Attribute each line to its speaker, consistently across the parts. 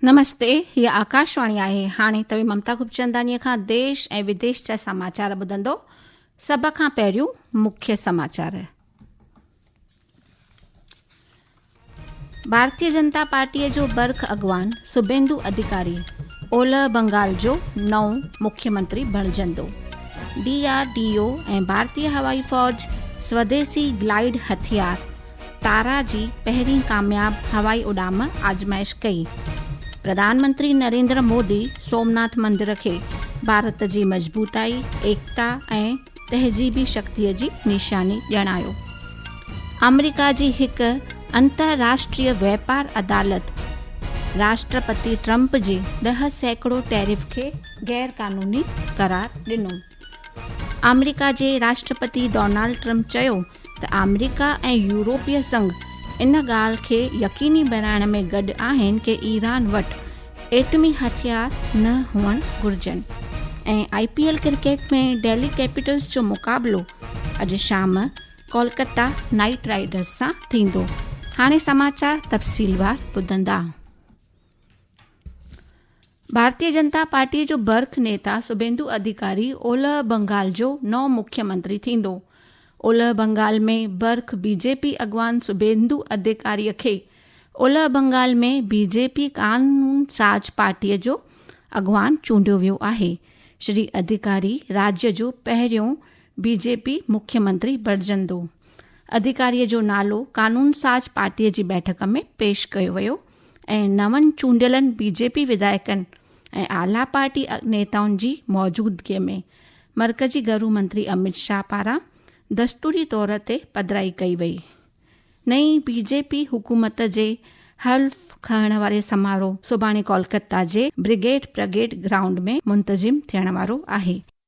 Speaker 1: نمستي هي آڪاشواڻي آهي هاڻي توهين ممتا گپچنداني کان ديش ۽ وديش جا سماچار ٻڌندو سڀ کان پهريون مکيه سماچار ڀارتي جنتا پارٽيء جو برک اڳواڻ سبيندو اڌيڪاري اولهه بنگال جو نئون مکي منتري بڻجندو ڊي آر ڊي او ۽ ڀارتي هوائي فوج سوديسي گلائيڊ هٿيار تارا جي پهرين ڪامياب هوائي اڏام آزمائش ڪئي پرڌان منتري نريندر مودي سومناٿ مندر کي ڀارت جي مضبوطائي ايڪتا ۽ تهذيبي شڪتيء جي نشاني ڄاڻايو. آمريڪا جي هڪ انترراشٽريي واپار عدالت راشٽرپتي ٽرمپ جي ڏهه سيڪڙو ٽيرف کي غير قانوني قرار ڏنو. آمريڪا جي راشٽرپتي ڊونالڊ ٽرمپ چيو ته آمريڪا ۽ يورپي سنگهه ان ڳالهه کي يقيني بڻائڻ ۾ گڏ آهن ڪي ايران وٽ ايٽمي هٿيار نه هئڻ گهرجن ۽ I P L cricket ۾ Delhi Capitals جو مقابلو اڄ شام ڪولڪتا نائيٽ رائيڊرز سان ٿيندو هاڻي سماچار تفصيلوار ٻڌندا ڀارتي جنتا پارٽيء جو برک نيتا سڀيندو اڌيڪاري اولهه بنگال جو نئون مکيه منتري ٿيندو. اولهه بنگال ۾ برک بي جي پي اڳواڻ سڀيندو اڌيڪاري کي اولهه بنگال ۾ بي جي پي قانون ساز پارٽيء جو اڳواڻ چونڊيو ويو آهي. شري اڌيڪاري راڄ جو پهريون بي جي پي مکيه منتري بڻجندو. اڌيڪاريء جو نالو قانون ساز پارٽيء جي بيٺڪ ۾ پيش ڪيو ويو. ۽ نون چونڊيلن بي جي پي وڌائڪن ۽ اعليٰ پارٽي نيتائن جي موجودگي ۾ مرڪزي گهرو منتري اميت شاهه پاران دستوري طور تي پڌرائي ڪئي وئي. نئين بي جي پي حڪومت جي حلف کڻڻ واري سماروهه سڀاڻي ڪولڪتا جي بريگيڊ پرگيڊ گرائونڊ ۾ منتظم ٿيڻ وارو آهي.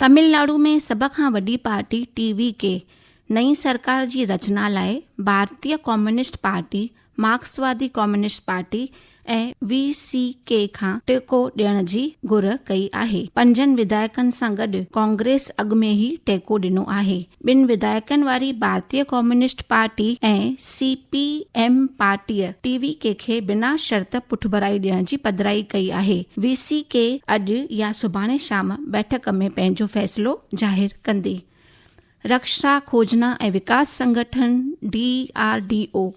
Speaker 1: تملناڊو ۾ سڀ کان وڏي پارٽي ٽي وي ڪي نئين سرڪار جي رچنا لاء ڀارتي ڪميونسٽ پارٽي مارڪسوادي communist party ۽ V C K کان ٽيڪو ڏيڻ جي گهر ڪئي آهي پنجن وڌايڪن سان گڏ ڪانگريس اڳ ۾ ئي ٽيڪو ڏنو آهي ٻن وڌايڪن واري ڀارتي communist party ۽ C P M پارٽيء ٽي وي ڪي کي بنا شرط پٺڀرائي ڏيڻ جي پڌرائي ڪئي آهي. وي سي ڪي اڄ يا سڀاڻي شام بيٺڪ ۾ پنهنجو فيصلو ظاهر ڪندي. رڪشا کوجنا ۽ وڪاس سنگٺن، ڊي آر ڊي او،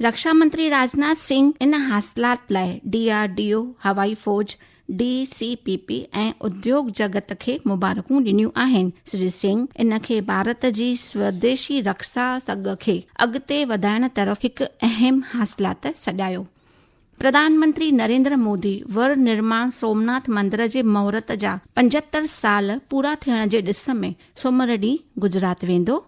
Speaker 1: رکشا منتري راجناٿ سنگھ ان حاصلات لاء ڊي آر ڊي او هوائي فوج ڊي سي پي پي ۽ اديوگ جگت کي مبارڪون ڏنيون آهن سري سنگھ ان کي ڀارت جي سوديشي رکسا سگهه کي اڳتي وڌائڻ طرف هڪ اهم حاصلات سڏايو پرڌان منتري نريندر مودي ور نرماڻ سومناٿ مندر جي مهورت جا پنجهتر سال پورا ٿيڻ جي ڏس ۾ سومر ڏينهن گجرات ويندو.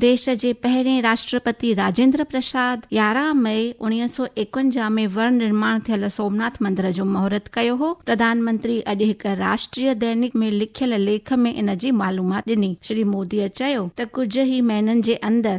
Speaker 1: ديش جي پهرين راشٽرپتي راجندر پرساد يارهن مئي اوڻيهه سؤ ايڪونجاهه ۾ ور نرماڻ ٿيل سومناٿ مندر جو مهورت ڪيو هو. پرڌان منتري اڄ هڪ راشٽريه دينڪ ۾ لکيل ليک ۾ ان جي معلومات ڏني. شري موديء چيو ته ڪجهه ئي مهينن جي اندر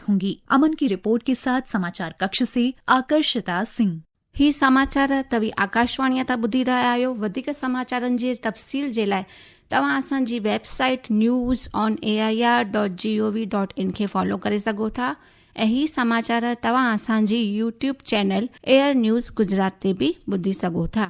Speaker 2: ٿونگي امن ڪي رپورٽ ڪي ساٿ سماچار ڪڪش سي آڪرشتا سنگھ. هي سماچار
Speaker 1: توهين آڪاشواڻيء تان ٻڌي رهيا آهيو، وڌيڪ سماچارن جي تفصيل جي لاء توهان اسان جي website news on A I R dot G O V dot in کي فالو ڪري سگهو ٿا ۽ هي سماچار توهان اسان جي YouTube channel Air News Gujarat تي به ٻڌي سگهو ٿا.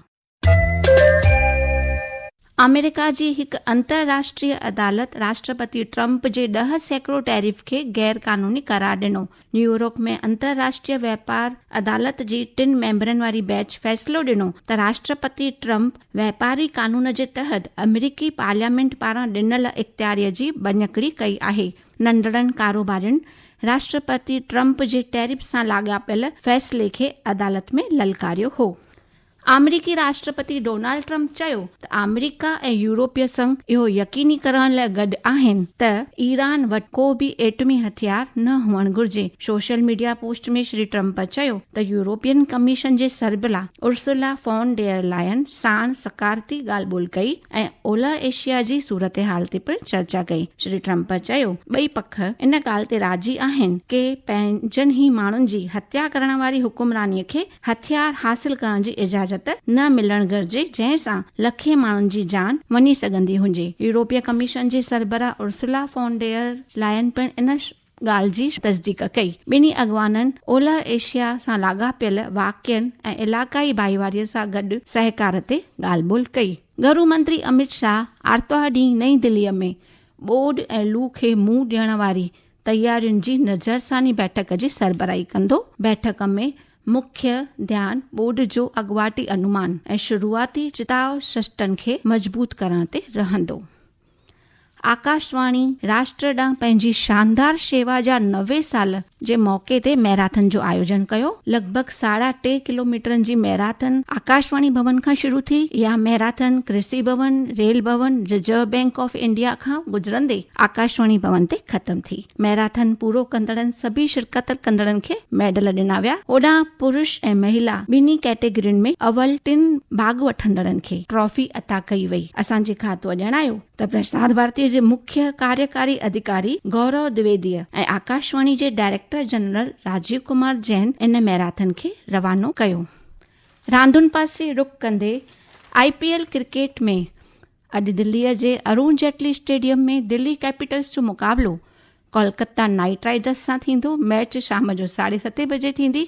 Speaker 1: آمريڪا جي هڪ انترراشٽريه عدالت راشٽرپتي ٽرمپ جي ڏهه سيڪڙو ٽيرف کي غير قانوني قرار ڏنو. نيويورڪ ۾ انترراشٽريه واپار عدالت جي ٽن ميمبرن واري بينچ فيصلو ڏنو ته راشٽرپتي ٽرمپ واپاري قانون جي تحت آمريڪي پارليامينٽ پاران ڏنل اختياري جي ڀڃڪڙي ڪئي آهي. ننڍڙن ڪاروبارين راشٽرپتي ٽرمپ جي ٽيرف سان لاڳاپيل فيصلي کي عدالت ۾ للڪاريو هو. آمريڪي راشٽرپتي ڊونالڊ ٽرمپ چيو ته آمريڪا ۽ يورپي سنگهه اهو يقيني ڪرڻ لاء گڏ آهن ته ايران وٽ ڪو به ايٽمي هٿيار نه هئڻ گهرجي. Social media post ۾ Shri Trump چيو ته يورپين ڪميشن جي سربراهه ارسولا فون ڊير لائن ساڻ سڪارتي ڳالهه ٻولهه ڪئي ۽ اولهه ايشيا جي صورتحال تي پڻ چرچا ڪئي. شري ٽرمپ چيو ٻئي پک ان ڳالهه تي راضي آهن ڪي پنهنجن ئي ماڻهن جي هتيا ڪرڻ واري حڪمراني کي هٿيار حاصل ڪرڻ جي اجازت نه ملڻ گهرجي جنهن سان لکين ماڻهن جي جان وڃي سگهندي هجي. يورپي ڪميشن جي سربراهه ارسلا فون ڊير لائن پڻ ان ڳالهه جي تصديق ڪئي. ٻنهي اڳواڻن اولهه ايشيا سان لاڳاپيل واقعن ۽ علاقائي ڀائيواري سان گڏ سهڪار تي ڳالهه ٻولهه ڪئي. گهرو منتري اميت شاهه آرتوار ڏينهن نئين دهلي ۾ ٻوڏ ۽ لو کي منهن ڏيڻ واري تيارين جي نظرثاني بيٺڪ جي سربراهي ڪندو. بيٺڪ ۾ مکيه ڌيان ٻوڏ جو اڳواٽي انومان ۽ شروعاتي چتاء سسٽن کي مضبوط ڪرڻ تي رهندو. آڪاشواڻي راشٽر ڏانهن پنهنجي شاندار شيوا جا نوي سال جي موقعي تي ميراٿن جو آيوجن ڪيو. لڳ ڀڳ ساڍا ٽي ڪلوميٽرن جي ميراٿن آڪاشواڻي ڀون کان شروع ٿي. اها marathon Krishi Bhawan, Rail Bhawan, Reserve Bank of India کان گذرندي آڪاشواڻي ڀون تي ختم ٿي. ميراٿن پورو ڪندڙن سڀئي شرڪت ڪندڙن کي ميڊل ڏنا ويا. اوڏانهن پرش ۽ مهيلا ٻنهي ڪيٽيگرين ۾ اول ٽن ڀاڳ وٺندڙن کي ٽرافي عطا ڪئي وئي. اسان جي کاتو ڄاڻايو ته پرسار ڀارتي جي مکيه ڪاريڪاري اديڪاري گورو دويديء ۽ آڪاشواڻي جي ڊائريڪٽر جنرل راجيو ڪمار جين ان ميراٿن کي روانو ڪيو. راندين پاسي رخ ڪندي آء پي ايل ڪرڪيٽ ۾ اڄ دلي جي ارون جيٽلي اسٽيڊيم ۾ دلي ڪيپيٽلز جو مقابلو ڪولڪتا نائٽ رائيڊرز سان ٿيندو ميچ شام جو ساڍي ستي بجي ٿيندي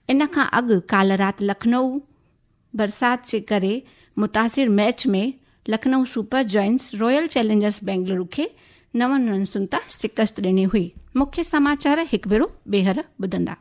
Speaker 1: ان کان اڳ ڪالهه رات لکنؤ برسات جي ڪري متاثر match ۾ Lucknow Super Giants Royal Challengers Bengaluru کي نون رنسن تان شڪست ڏني هئي مکي سماچار هڪ ڀيرو ٻيهر ٻڌندا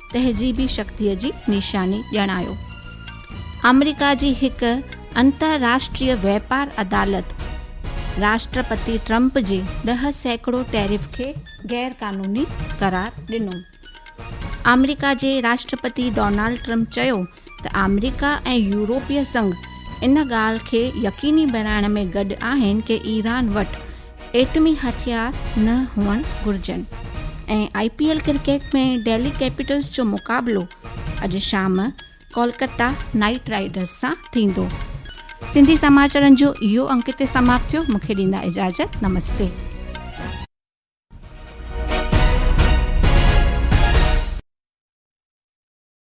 Speaker 1: تهذيبي شڪتيء جي نشاني ڄاڻايو. آمريڪا جي هڪ انترراشٽريه واپار عدالت راشٽرپتي ٽرمپ جي ڏهه سيڪڙو ٽيرف کي غير قانوني قرار ڏنو. آمريڪا جي راشٽرپتي ڊونالڊ ٽرمپ چيو ته آمريڪا ۽ يورپي سنگهه ان ڳالهه کي يقيني بڻائڻ ۾ گڏ آهن ته ايران وٽ ايٽمي هٿيار نه هئڻ گهرجن ۽ I P L cricket ۾ Delhi Capitals جو مقابلو اڄ شام ڪولڪتا نائيٽ رائيڊرز سان ٿيندو سنڌي سماچارن جو اهو انڪ هتي سماپت ٿيو مون کي ڏيندا اجازت نمستي